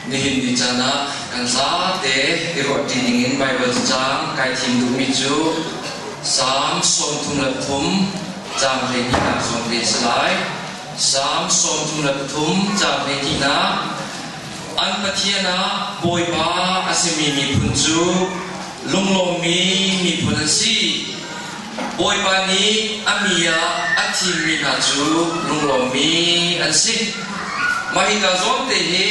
Nihin ni caan ah kan zate i ruahṭi dingin Baibal cacang kai thim duhmi cu Salm sawmthum le pathum caang hleihnihnak zong te a si lai. Salm sawmthum le pathum caang hleihnihnak An Pathian ah Bawipa a simi miphun cu lunglawmmi miphun an si. Bawipa nih a mi ah a thimmi hna cu lunglawmmi an si. Mah hi hna zawngte hi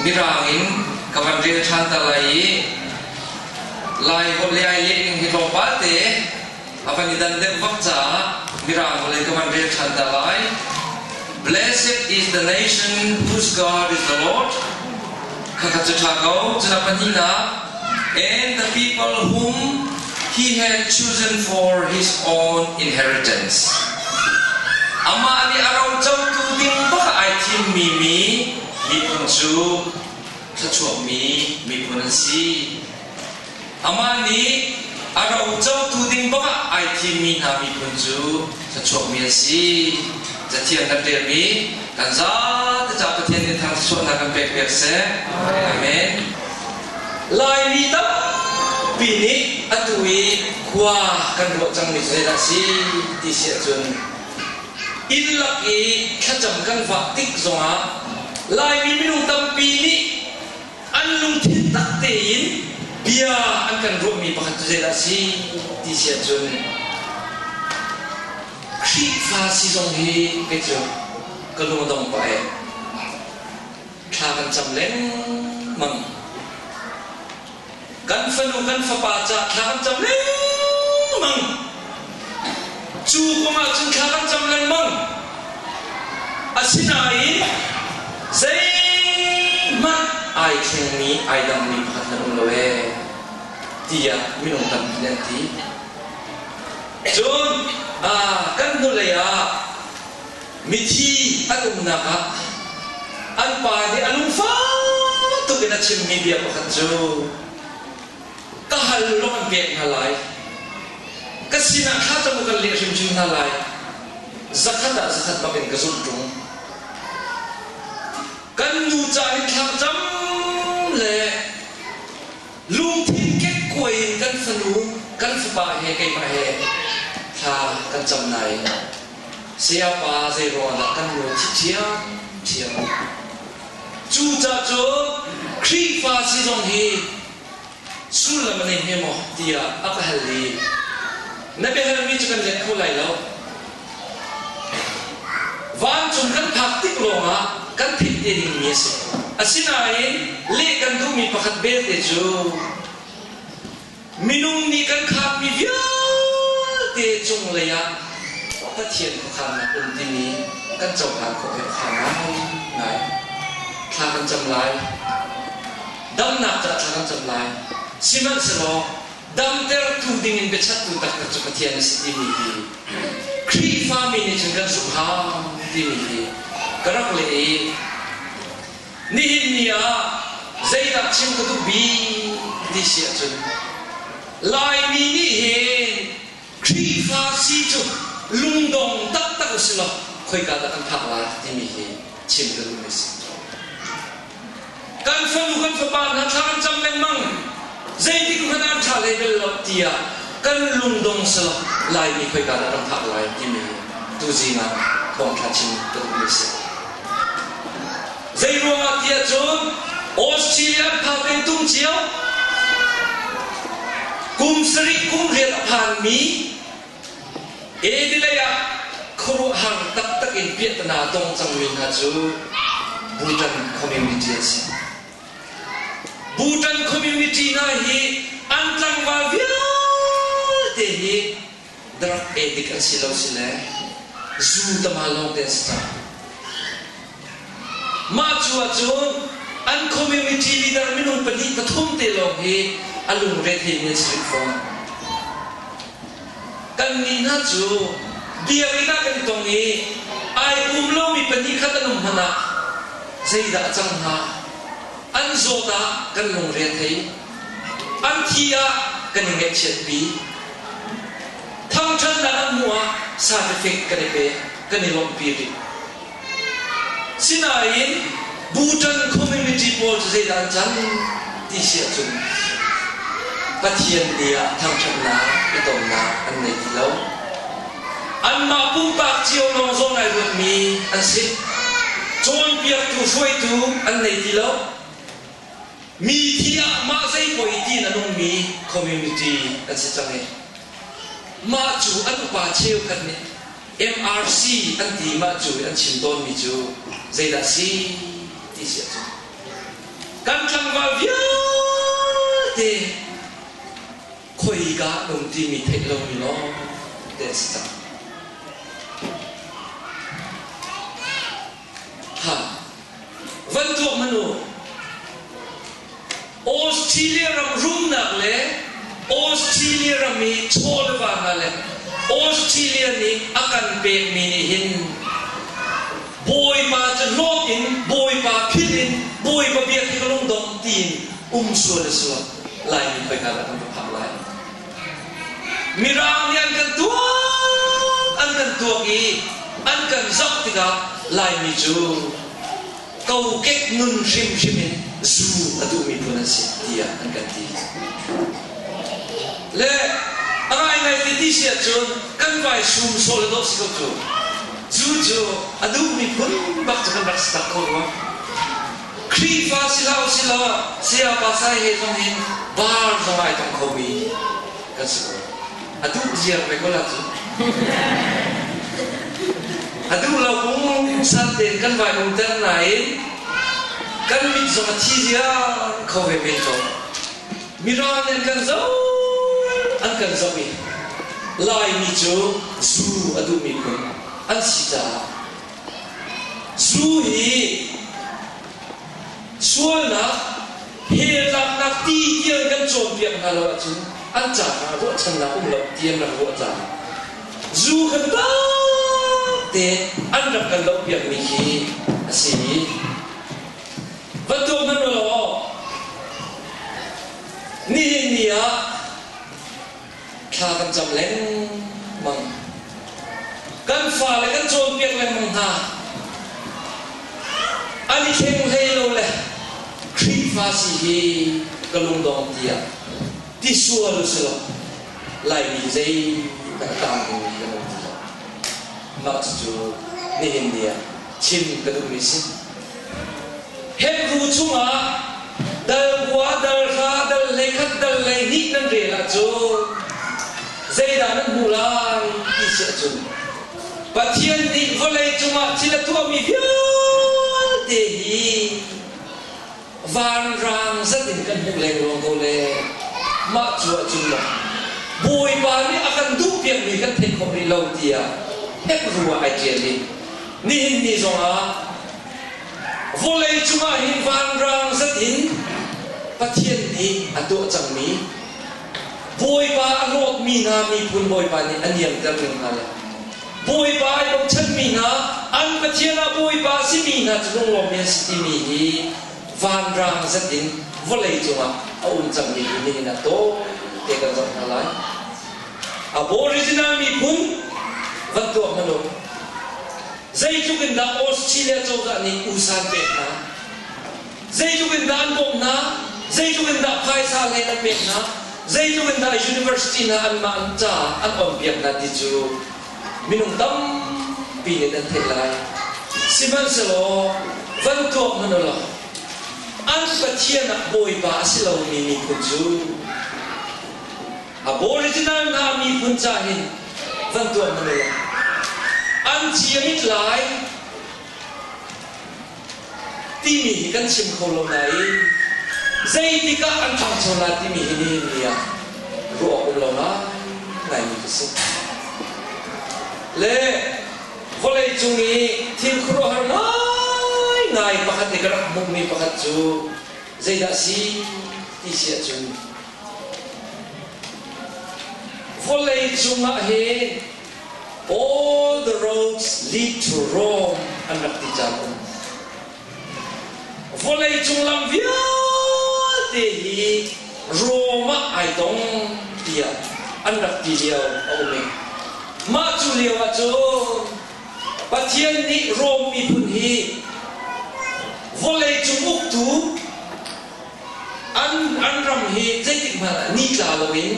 mirang in ka van rel ṭhan ta lai i Lai holh le ai lehning hi tlawmpal te a van i dan deuh bak caah mirang holh in ka van rel ṭhan ta lai. Blessed is the nation whose God is the Lord. Khakhat cu tha ko. Cuna pahnihnak. And the people whom he had chosen for his own inheritance. Amah nih a rocotu ding bak ai thimmi mi miphun cu thluachuakmi miphun an si. Amah nih a rocotu ding bangah ai thimmi hna miphun cu thluachuakmi an si. Cathiang kan ṭialmi kan zate ca Pathian nih thar thluachuahnak kan pek piak seh. Amen. Laimi tampi nih atu i khua kan ruah cangmi cu zeidah a si ti si ahcun inn lak i thlacam kan vah tik zongah Laimi minung tampi nih An lungthin tak tein bia an kan ruahmi pakhat cu zeidah a si ti si ahcun Khrihfa si zong hi kei cu ka lungdong pa ee thla kan cam lengmang. kan fanu kan fapa ca thla kan cam lengmang cu kum ah cun thla kan cam lengmang asinain zeihmanh ai thlengmi ai dangmi pakhat nan um lo ee tiah minung tampi nan ti cun kan hnulei ah mithi an umnak ah an pa nih a lungfak tuk in a chimmi bia pakhat cu ka hal lawng an pek hna lai ka sinah kha cabu kan leh hrimhrim hna lai zakhat ah zakhat bak in ka zulh ṭung kan nu ca hi thlang cam le Lungthin kekkuai in kan fanu, kan fapa he keimah he thla kan cam nain sayapa zeiruangahdah kan nuai thih ṭhiamṭhiam. Cucacun Khrihfa si zong hi sullam a nei hme maw tiah a ka hal i na biahalmi cu kan let kho lai lo. Vancung kan phak tik lawngah kan philh te dingmi a si. Asinain leh kan duhmi pakhat belte cu minung nih kan khaanmi vialte cunglei ah Pathian khuakhannak um timi kan cohlan khawh ve khawh ngai. Thla kan cam lai. Damnak caah thla kan cam lai. Sihmanhsehlaw damtertu dingin biachahtu taktak cu Pathian a si timi hi Khrihfami nih cun kan zumh hau timi hi ka rak leh i nihin ni ah zeidah chim ka duh bik ti si ahcun Laimi nih hin Khrihfa si cu lungdong taktak usilaw khoika dah kan phak lai timi hi chim ka duhmi si. Kan fanu kan fapa hna thla an cam lengmang zeitik hmanh an ṭha hlei bel lo tiah kan lungdong silo laimi khoika dah kan phak lai timi hi tuzing ah thawngṭha chim ka duhmi si. Zeiruangah tiah cun Australian phate tung cio kum sarih kum rial a phanmi Adelaide ah khuaruahhar taktak in piahtana tong cangmi hna cu Bhutan community an si. Bhutan community hna hi an tlangval vialte hi Dak edik an si lo si le zuu tama lawngte an si cang. Mah cu ahcun an community leader minung pahnih pathum te lawng hi a lungre teimi an si rih fawn. Kannih hna cu biakinn ah kan tong i ai um lomi pahnih khat an um hmanh ah zeidah a cang hnga? An zawt ah kan lungre thei. An thi ah kan i ngaihchiatpi. Thangṭhatnak a hmuh ah satifik kan i pek, kan i lawmhpi rih. Sinain Bhutan community pawl cu zeidah an cang ti si ahcun Pathian nih ah thangṭhatnak i tonnak an ngei ti lo. Anmah pumpak cio lawng zawn ai ruatmi an si. Cawnpiaktu hruaitu an nei ti lo. Mithi ah mah zeipuai ti in a nungmi community an si cang i mah cu an upa cheukhat nih MRC an ti mah cu i an chim tawnmi cu zeidah a si ti si ahcun kan tlangval vialte khoika nung timi theih lomi lawng te a si cang. ha van tuak hmanh u Australia ram rumnak le Australia ram i chawlva hna le Australia nih a kan pekmi nih hin bawipa cu hlawt in bawipa philh in bawipa biak hi ka lung dong tiin um sual a sual lai mi poi hna lah kan va phak lai Mirang nih an kan tuak an kan tuak i an kan zoh tikah Laimi cu kokek nun hrimhrim in zu a duhmi phun an si tiah an kan ti. Le a ngaingai ti ti si ahcun kan pai sum sawh le dawh si ko cu. Zu cu a duhmi phun bak cu kan rak si tak kho rua. Khrihfa si hlah u si law Saya Pasai he zong hin bar zong ai tong kho mi kan si ko. A duh ziar ve ko lah cu. A duh lo kung san tein kan vai um ter nain kan mit zong a thi ziar kho ve men ko. Mirawn in kan zoh an kan zoh i Laimi cu zu a duhmi phun an si caah Cu hi sualnak heltlaknak ti tiang kan cawnpiak hna lo ahcun an ca hna ruahchannak um lo ti an rak ruah cang. Zu kan te an rak kan lo piakmi khi a si i va tuak hmanh law nihin ni ah thla kan cam lengmang kan fale kan cawnpiak lengmang hna an i thleng hlei lo le Khrihfa si hi ka lungdong tiah ti sual si lo laimi zei kan taang ding kan um ti lo mah cucu nihin ni ah chim ka duhmi si Hebru chungah dalbua, dalhra, dal hlei khat dal hlei hnih nan rel ah cu zeidah nan hmuh lai ti si ahcun Pathian nih vawlei cungah thil a tuahmi vialte hi vanrang zat in kan hmuh lengluang ko le mah cu ahcun Bawipa nih a kan duh piakmi kan theih khawh rih lo tiah Hebru ah ai ṭial i Nihin ni zongah vawleicung ah hi vanrang zat in Pathian nih a tuah cangmi Bawipa a hlawtmi hna miphun Bawipa nih a niamter ning hna le Bawipa i bochanmi hna, an Pathian ah Bawipa a simi hna cu lunglawmmi an si timi hi vanrang zat in vawleicung ah a um cangmi hi nihin ah tawi te kan zoh hna lai. Aboriginal miphun van tuah hmanh u. Zeitluk in dah Australia cozah nih usan pek hna. Zeitluk in dah an bawmh hna. Zeitluk in dah phaisa hlei an pek hna. Zeitluk in dah university hna an mah caah an onpiak hna ti cu minung tampi nih an theih lai. Sihmanhsehlaw van tuak hmanh u law an Pathian ah Bawipa a si lomi miphun cu Aboriginal hna miphun ca hi van tuan na le an thiam it lai timi hi kan chim kho lo nain zeitikah an ṭhangcho la timi hi nihin ni ah ruah um lo ngaimi ka si le vawleicung i thil khuaruahhar ngaingai pakhat nih ka rak hmuhmi pakhat cu zeidah si ti si ahcun Vawleicung ah hin all the roads lead to Rome an rak ti cang. Vawleicung lam vialte hi Rome ah ai tong tiah an rak ti lio a um i mah cu lio ah cu Pathian nih Rome miphun hi vawleicung uktu an, an ram hi zeitik hmanh ah nitla loin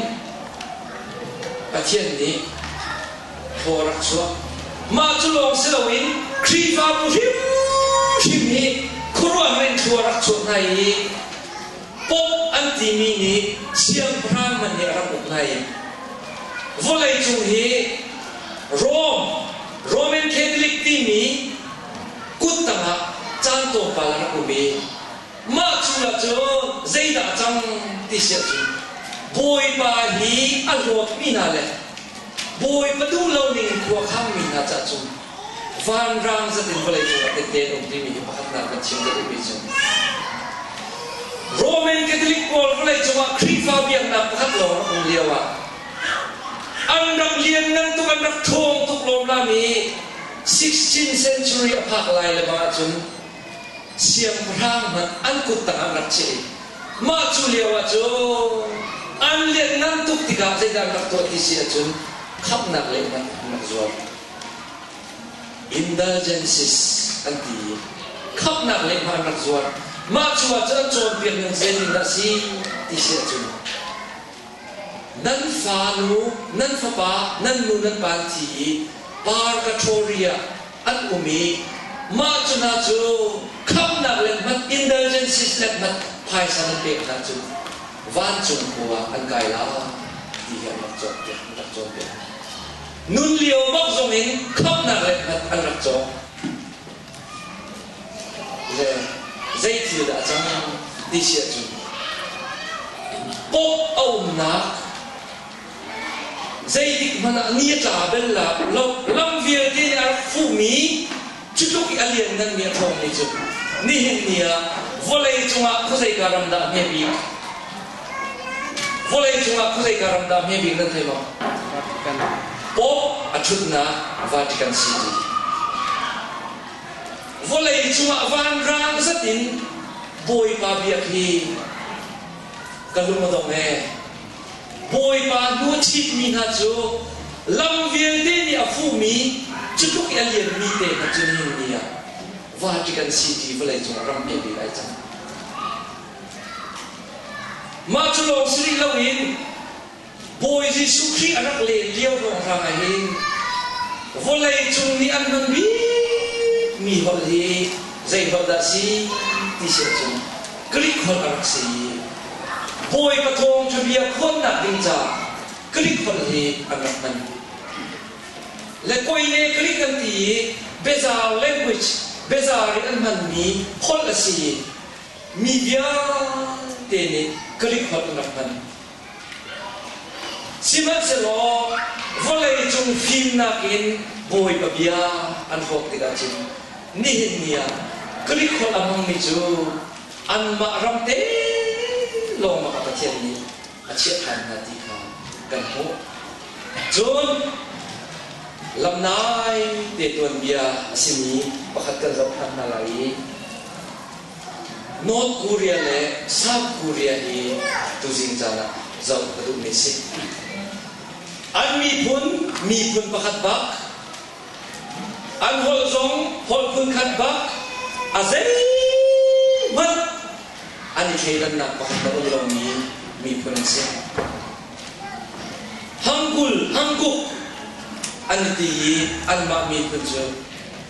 Pathian nih thaw rak chuak. Mah cu lawng si loin Khrihfabu hrimhrim hi khuaruah men thlua rak chuak hna i Pope an timi nih siangpahrang hmanh nih a rak uk hna i vawleicung hi Rome, Roman Catholic timi kut tangah caan tlawmpal a rak um i Mah chung ahcun zeidah a cang ti si ahcun Bawipa hi a hlawtmi hna le Bawipa duh lo ning khua khangmi hna ca cun vanrang zat in vawleicung ah tehte an um timi hi pakhatnak na chim ka duhmi cu Roman Catholic pawl vawleicung ah Khrihfa biaknak pakhat lawng an um lio ah an rak lianngan tuk an rak ṭhawng tuk lawmlam i 16th century a phak lai lebang ahcun siangpahrang hmanh an kut tangah an rak cheh i mah cu lioah cu an lianhngan tuk tikah zeidah an rak tuah ti si ahcun khamhnak lengmang an rak zuar indulgences an ti i khamhnak lengmang an rak zuar mah cu ahcun an cawnpiak ning zeitin dah si ti si ahcun nan fanu nan fapa nan nu nan pa an thi i par ka ṭhawri ah an um i mah cu hna cu khamhnak le hmanh, indulgences le hmanh phaisa nan pek hna cun vancung khua ah an kai lai ti hi an rak cawnpiak, an rak cawnpiak. Nun lio bak zong in khamhnak le hmanh an rak cawng. Le zei thil dah a cang ti si ahcun, Pope a umnak Zeitikhmanh ah ni tla bel la, lam vialte nih a rak fuhmi, cu tluk i a liannganmi a ṭhawngmi cu, nihin ni ah vawlei cungah khuazeika ram dah hme bik? Vawlei cungah khuazeika ram dah hme bik nan theih maw? Pope a ṭhutnak Vatican City. Vawlei cungah vanrang zat in Bawipa biak hi ka lung a dong ee. Bawipa hnu a thitmi hna cu lam vialte nih a fuhmi, cu tluk i a lianmi te hna cu ni ah Vatican City vawleicung ah ram piak i lai cang. Mah cu lawng si rih loin Bawi Jesuh Khrih a rak len lio ruanghrang ah hin vawleicung nih an hman bikmi holh hi zei holh dah a si ti si ahcun Greek holh a rak si i Bawi ka thawng cu bia khawnnak ding caah Greek holh hi an rak hman. Le Koine Greek an ti i Bezar language, Bezar in an hmanmi holh a si i mi vialte nih Greek holh an rak hman. Sihmanhsehlaw vawleicung fimnak in Bawipa bia an hlawt tikah cun nihin ni ah Greek holh a hmangmi cu anmah ram te lawngah Pathian nih a chiah ṭhan hna ti kha kan hmuh. Cun lam naite tuanbia a simi pakhat kan zoh ṭhan hna lai i North Korea le South Korea hi tuzing caan ah zoh a duhmi a si. An miphun miphun pakhat bak, an holh zong holh phun khat bak, a zeihmanh an i thleidannak pakhat a um lomi miphun an si. Hangkul, hangkuk an ti i anmah miphun cu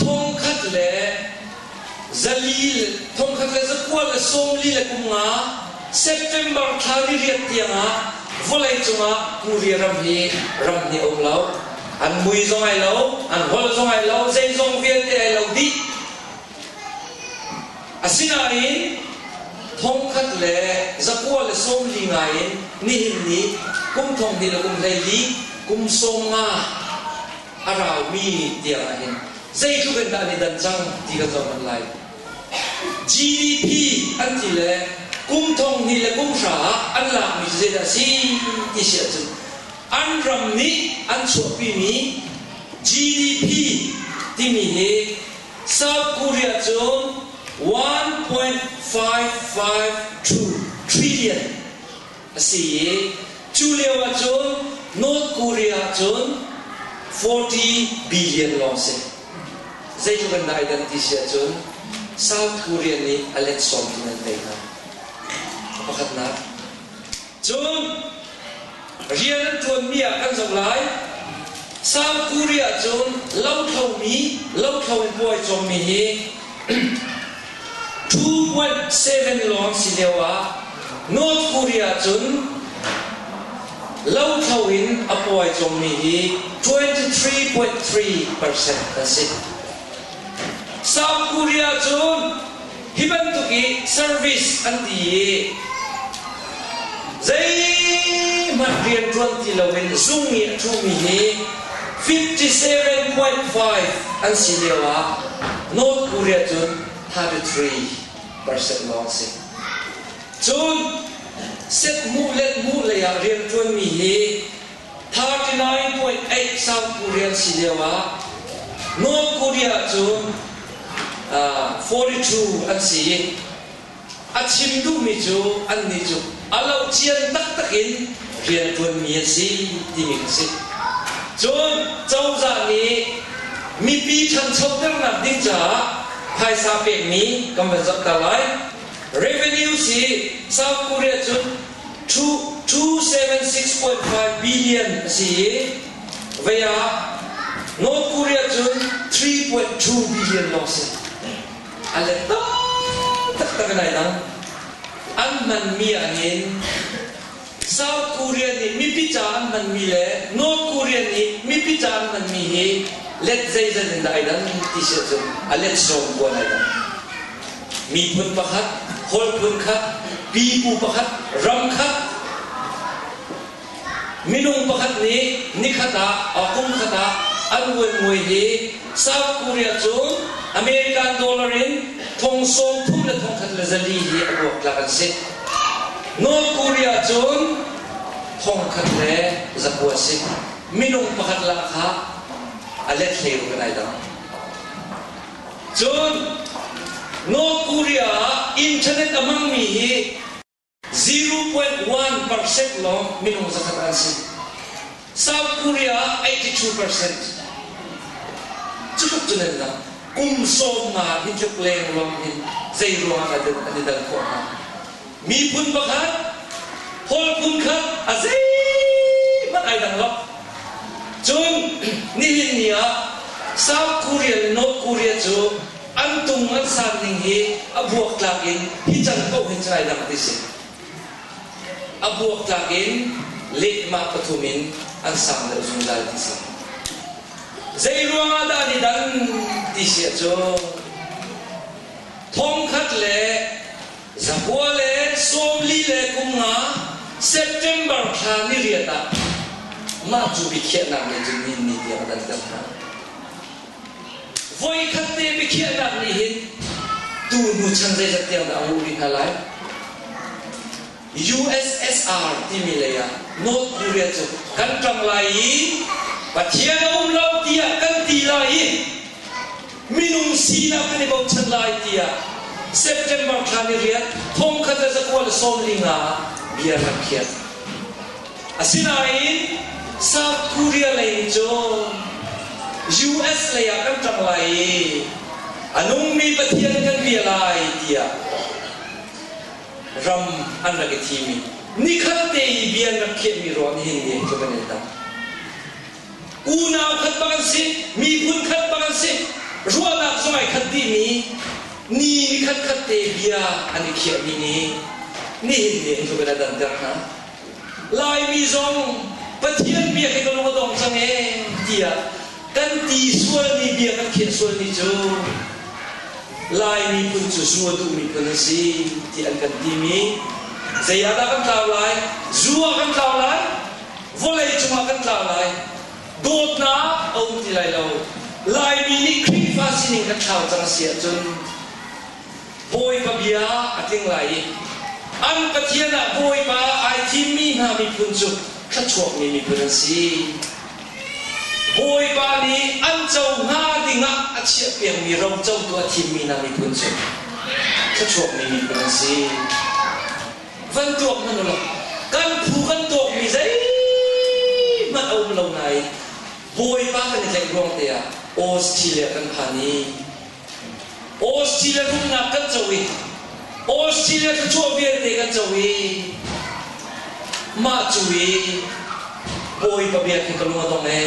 thongkhat le zalil thongkhat le zakual le sawmli le kum nga September thla ririat tiangah vawlei cungah puri ram hi ram hi a um lo an mui zong ai lo an hol zong ai lo zeizong vialte ai lo dih asinain thongkhat le zakua le sawmli ngaiin nihin ni kum thong ni le kum hlei li kum sawm nga a raumi tiang ah hin zeitluk in dah an i dan cang ti kan zoh manh lai. GDP an ti le kum thonghnih le kum hra ah an lakmi cu zeidah a si ti si ahcun an ram nih an chuahpimi GDP timi hi South Korea cun 1.55 trillion a si i cu lioah cun North Korea ah cun forty billion lawng si. Zeitluk in dah ai danh ti si ahcun South Korea nih a let sawm in an tei hna. Pakhatnak. Cun rian an ṭuanmi ah kan zoh lai. South Korea cun lothlomi, lothlo in puai cawmmi hi 2.7 lawng si lio ah North Korea cun lothlo in a puai cungmi hi 23.3 percent a si. South Korea cun hi bantuk i service an ti i Zeihmanh rianṭuan ti loin zung i a ṭhumi hi 57.5 an si lioah North Korea cun 33 percent lawng a si. Cun set hmuh let hmuh leiah rianṭuanmi hi 39.8 South Korea an si lioah North Korea cun 42 an si i A chim duhmi cu annih cu a lo cian taktak in rianṭuanmi an si timi kha si. Cun cozah nih mipi ṭhanchoternak ding caah phaisa pekmi kan van zohter lai. Revenues hi South Korea cun $276.5 billion a si i vei ah North Korea cun $3.2 billion lawng a si. a let taktak in ai lang an hmanmi ahhin South Korea nih mipi caah an hmanmi le North Korea nih mipi caah an hmanmi hi let zeizat in dah ai dang ti si ahcun a let sawm puan ai dang miphun pakhat hawl phun khat pipu pakhat ram khat Minung pakhat nih nikhat ah, or kum khat ah an vuanmui hi South Korea cu American dollar in thong sawmthum le thong khat le zali hi a luak tlak an si. North Korea cun thong khat le zaku a si. Minung pakhat la kha a let hlei kan ai dang. Cun North Korea ah internet a hmangmi hi 0.1 percent lawng minung zakhat an si. South Korea ah 82 percent. Cu tluk cu nan lang. Kum sawmnga hi tluk leng lawng hi zeiruangah dah an i dan khawh hnga? Miphun pakhat, Paul phun kha a zeihmanh ai dang lo. Cun nihin ni ah South Korea le North Korea cu An tung an san ning hi a buak tlak in hi can paoh hi Chinanak ti si. A buak tlak in lehma pathum in an sang deuh zungzal ti si. Zeiruangah dah ni dan ti si ahcun thongkhat le zahua le sawmli le kum nga September thla ni riat ah mah cu biakhiahnak nih cun ni ni tiang a danter hna. Voikhat te biakhiahnak nih hin tu hnu chan zeizat tiang dah a nguh rih hna lai? USSR timi lei ah North Korea cu kan ṭang lai i Pathian a um lo tiah kan ti lai i minung sinak kan i bochan lai tiah September thla ni riat thongkhat le zakual sawm li nga ah bia rak khiah. Asinain South Korea lei nih cun US lei ah kan ṭang lai i a nungmi Pathian kan bia lai tiah ram an rak i thim i nikhat te i bia an rak khiahmi ruang nih hin nihin cu kan in tang. Unau khat bak an si, miphun khat bak an si, ruahnak zong ai khat dihmi ni ni khat khat te bia an i khiahmi nih nihin nihin cu kan in danter hna. Laimi zong Pathian biak hi ka lung a dong cang e tiah kan ti sualmi bia kan khiah sualmi cu Laimi phun cu Sungawthu miphun an si ti an kan timi zei ah dah kan tlau lai zu ah kan tlau lai vawlei cungah kan tlau lai dawtnak a um ti lai lo Laimi nih Khrihfa sining kan thlau cang a si ahcun Bawipa bia a tling lai i an Pathian ah Bawipa ai thimmi hna miphun cu thluachuakmi miphun an si. Bawipa nih an co hna dingah a chiahpiakmi ro cotu a thimmi hna miphun cu thluachuakmi miphun an si. Van tuak hmanh ulaw kan phu kan tuakmi zeihmanh a um lo nain Bawipa kan i tlaih ruang te ah Australia kan phan i Australia rumnak kan co i Australia thluachuah vialte kan co i mah cu i bawipa bia khi ka lung a dong e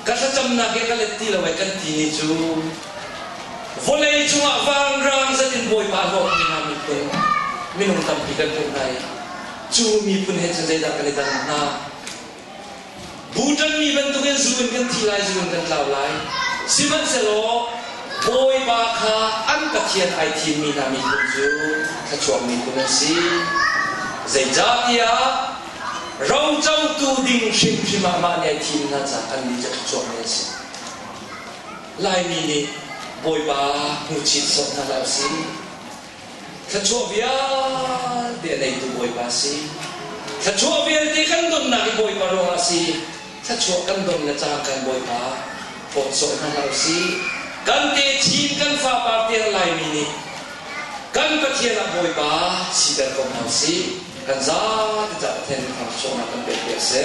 ka thlacamnak i ka let ti lo ai kan ti ni cu vawlei cungah vanrang zet in bawipa hlawt mi hna miphun minung tampi kan hmuh hna i cu miphun he cu zeidah kan i tan hna Bu ṭanmi bantukin zu in kan thi lai, zu in kan tlau lai. Sihmanhsehlaw Bawipa kha an Pathian ai thimmi hna miphun cu thluachuak miphun an si. Zeicahtiah rocotu ding hrimhrim ah mah nih ai thim hna caah annih cu thluachuak mi an si. Laimi nih Bawipa hmuhchih sawh hna hlah u sih. Thluachuah vialte a neitu Bawipa si. Thluachuah vialte kan donnak i Bawipa ruangah si. Thluachuah kan don le caan kan Bawipa phawtzawh hna hlah usih. Kan techin kan fapar ter laimi nih kan Pathian ah Bawipa siter ko hna usih. Kan zate caah Pathian nih thangchuahnak kan pekpi a si.